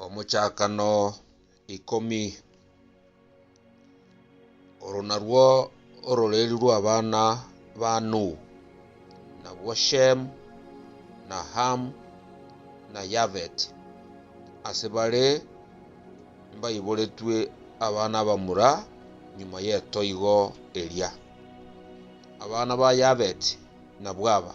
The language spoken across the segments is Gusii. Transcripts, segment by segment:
Omochakano ikomi. Oro narwo ororeeria rw'abana ba Nuhu, nabwo Shem, na Ham, na Yafet. Ase bare mbaiboretwe abana abamura nyuma y'etoigo eria. Abana ba Yafet nabwo aba.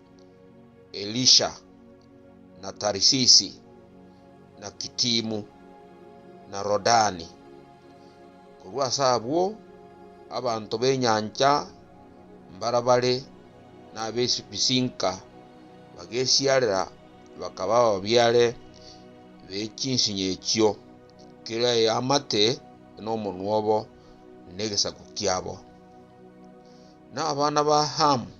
Elisha, na Tarisisi, na Kitimu, na Rodani. Korwa ase abwo abanto b'enyancha mbarabare nab'ebisinka bagesiarera bakaba ababiare be chinsinyo echio, kera eamate nomonwa obo negesaku kiabo. Na abana ba Hamu.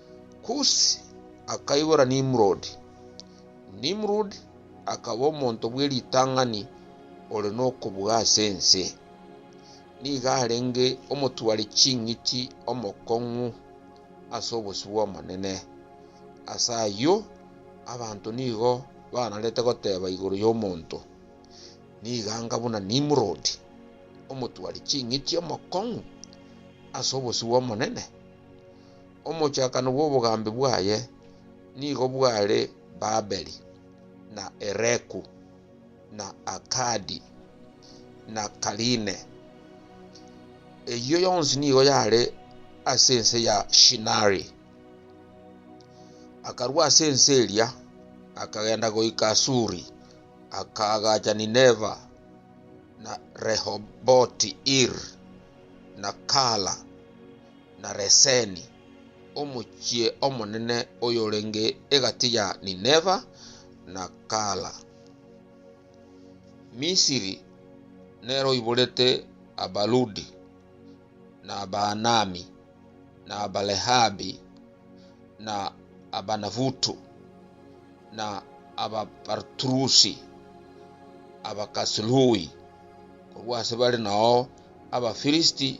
Kusi akaigora Nimrodi. Nimrod akaba omonto bwe ritang'ani ore nokobua ase ense. Nigo arenge omotwari ching'iti omokong'u ase obosio bw'Omonene. Ase ayio abanto nigo banarete goteba igoro y'omonto, Nigo anga buna Nimrodi, omotwari ching'iti omokong'u ase obosio bw'Omonene. Omochakano bw'obogambi bwaye nigo bware Babeli, na Ereku, na Akadi, na Kaline. Eyio yonsi nigo yare ase ense ya Shinari. Akarua ase ense eria, akagenda goika Asuri, akaagacha Nineva, na Rehoboti-iri, na Kala. na Reseni, omochie omonene oyorenge egati ya Nineva na Kala. Misiri nere oiborete Abaludi, na Abaanami, na Abalehabi, na Abanafutu, na Abapartrusi, Abakasilui, korwa ase bare nao Abafirisiti,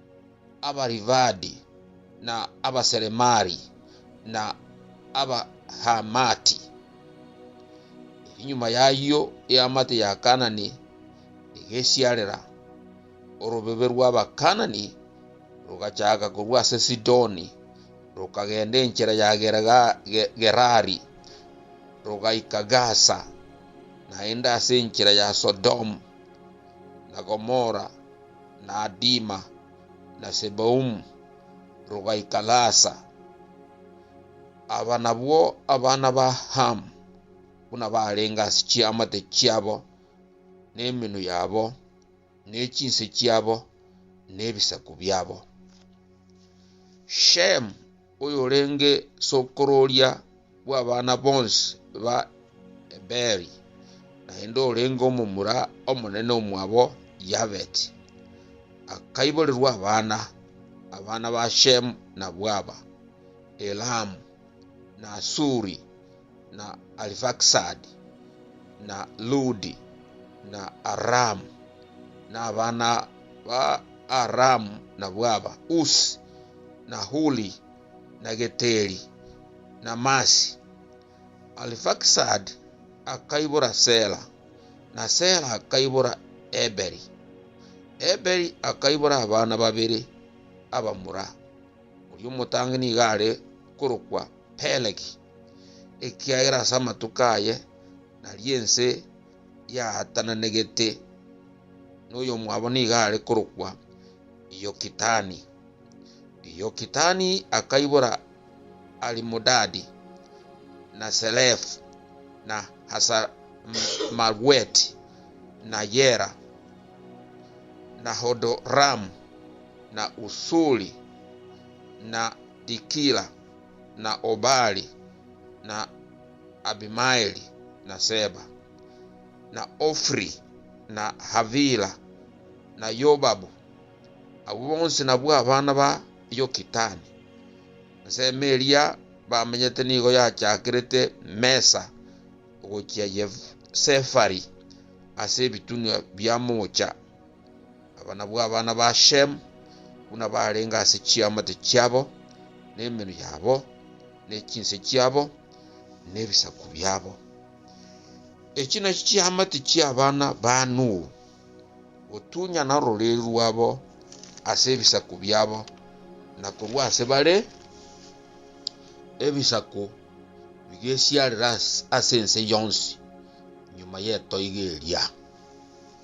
Abarivadi, na Abaseremari, na Abahamati. Erio nyuma y'ayio eamate ya Kaanani egesiarera, orobebe rw'Abakaanani rogachaaka korwa ase Sidoni, rokagenda enchera ya Gerari, rogaika Gaza, naende ase enchera ya Sodomu na Gomora. na Adima, na Seboumu, rogaika Lasa. Aba nabwo abana ba Hamu, buna barenge ase chiamate chiabo, na emenwa yabo, ne chinse chiabo, na ebisaku biabo. Shemu oyorenge sokororia bw'abana bonsi ba Eberi, naende orenge omomura omonene omwabo Yaveti. Akaiborerwa abana, abana ba Shemu nabwo aba, Elamu, na Asuri, na Arifaksadi, na Ludi, na Aramu, na abana ba Aramu nabwo aba, Usi, na Huli, na Geteri, na Masi. Arifaksadi akaibora Sela, na Sela akaibora Eberi. Eberi akaibora abana babere abamura, oria omotangi nigo are korokwa Pelegi. ekiagera ase amatuko aye nario ense yaatananegete, na oyomwabo nigo are korokwa Yokitani. Yokitani akaibora Alimodadi, na Selefu, na Hasarmagweti, na Yera, na Hodoramu, na Usuri, na Dikila. na Obali, na Abimaeli, na Seba, na Ofiri, na Havila, na Yobabu, abwo bonsi nabwo abana ba Yokitani. Ensemo eria bamenyete nigo yachakerete Mesa ogochia Sefari ase ebitunwa bia Mucha. Aba nabwo abana ba Shemu, buna barenge ase chiamate chiabo, nemenwa yabo, ne chinse chiabo, ne ebisaku biabo. Echi nachio chiamate chi'abana ba Nuhu, gotunyana ororiri rwabo ase ebisaku biabo, na korwa ase bare ebisaku bigesiarera ase ense yonsi nyuma y'etoigo eria.